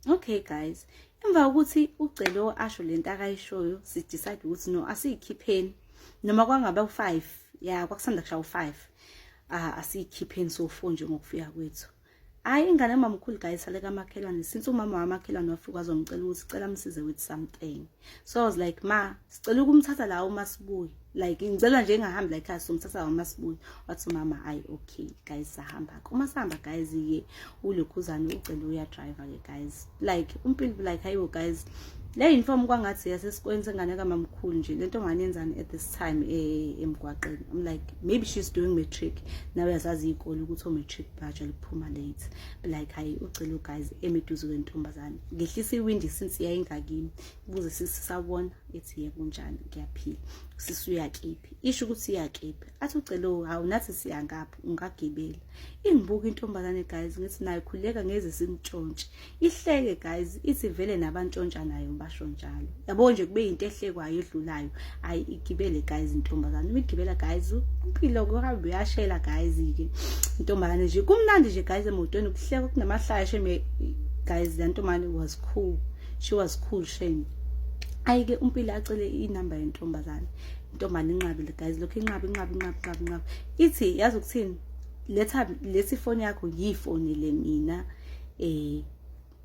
okay guys emva kokuthi ucelo asho lento akayishoyo si decide ukuthi no asiyikhipheni noma kwangaba u5 ya kwakusanda kushaya u5 ah asiyikhipheni so fo nje ngokufika kwethu hayi ingane mamkhulu guys sale kamakhelwane since umama wamakhelwane wafika azongicela ukuthi cela msize with something so i was like ma sicela ukumthatha la uma sibuye like ngicela nje engahambi la ekhaya somthatha la uma sibuye wathi umama ayi okay guys sahamba uma sihamba guys ye ulokhuzane ucela uya driver ke guys like umpilo like hayibo guys le uniform kwangathi yasesikweni sengane kamamkhulu nje lento ngane yenzani at this time eh, emgwaqeni i'm like maybe she's doing matric nawe yazazi ikole ukuthi o matric badge liphuma late like hayi ucela uguys emiduze kwentombazane ngehlisa iwindi since yayingakimi ukuze sisabona ethi ye kunjani ngiyaphila sisi uyakiphi isho ukuthi iyakiphi athi ucela hawu nathi siyangaphi ungagibela ingibuka intombazane guys ngithi nayo khuleka ngeze simtshontshe ihleke guys ithi vele nabantshontsha nayo basho njalo yabo nje kube yinto ehlekwayo edlulayo ayi igibele guys intombazane uma igibela guys impilo kuhambe uyashela guys ke intombazane nje kumnandi nje guys emotweni kuhleka kunamahlaya shame guys le ntombazane was cool she was cool shame ayi ke umpilo acele inamba yentombazane intombazane inqabile guys lokho inqaba inqaba inqaba inqaba inqaba ithi yazi ukuthini letha lesi foni yakho yifoni le mina eh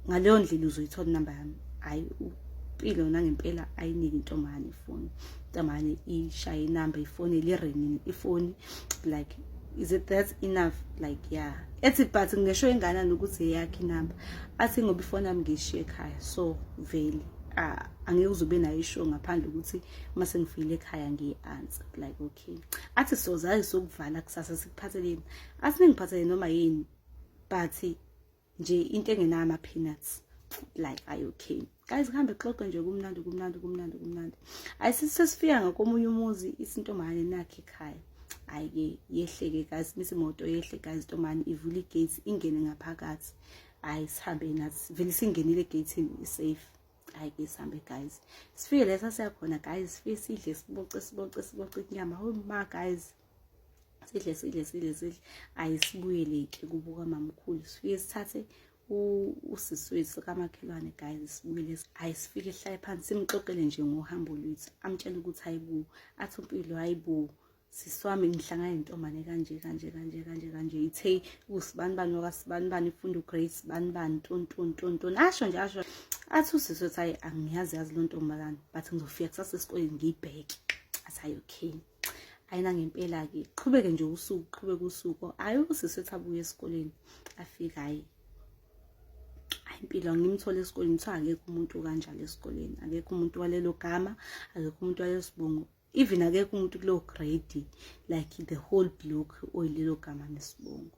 ngaleyo ndlela uzoyithola inamba yami hayi impilo nangempela ayiniki intombane ifoni intombane ishaye inamba ifoni lirenini ifoni like is it that enough like yeah ethi but ngisho ingana nokuthi eyakhe inamba athi ngoba ifoni yami ngishiye ekhaya so vele angeke uzobe nayo isho ngaphandle ukuthi uma sengifile ekhaya ngiyi-answer like okay athi sozazi sokuvala kusasa sikuphatheleni athi ningiphathele noma yini but nje into engenayo ama peanuts like are you okay guys kuhambe xoxe nje kumnandi kumnandi kumnandi kumnandi ayisisesifika ngakomunye umuzi isintombane nakhe ekhaya ayike yehleke guys misi moto yehle guys intombane ivula igate ingene ngaphakathi hayi sihambe nathi vele singenile egeyithini isafe hayi ke sihambe guys sifike lesa siyakhona guys sifike sidle siboce siboce siboce inyama homa guys sidle sidle sidle sidle ayisibuyeleke kubuka mamkhulu sifike sithathe usisi wethu kamakhelwane guys sibuyele ayisifike sihlale phansi simxoxele nje ngohambo lwethu amtshele ukuthi hayibo athi umpilo hayibo siswami ngihlangana nentombane kanje kanje kanje kanje kanje ithe usibani bani wakasibani bani ifunda ugrade sibani bani tontoni tontoni asho nje asho athi usisi wethu hayi angiyazi yazi lo ntombazane but ngizofika kusasa esikoleni ngiyibheke athi hayi okay ayina ngempela-ke qhubeke nje usuku qhubeke usuku ayi usisi ethi abuye esikoleni afike hayi impilo ngimthole esikoleni kuthiwa akekho umuntu kanjalo esikoleni akekho umuntu walelo gama akekho umuntu walesibongo even akekho umuntu kulowo grade like the whole block oyilelo gama nesibongo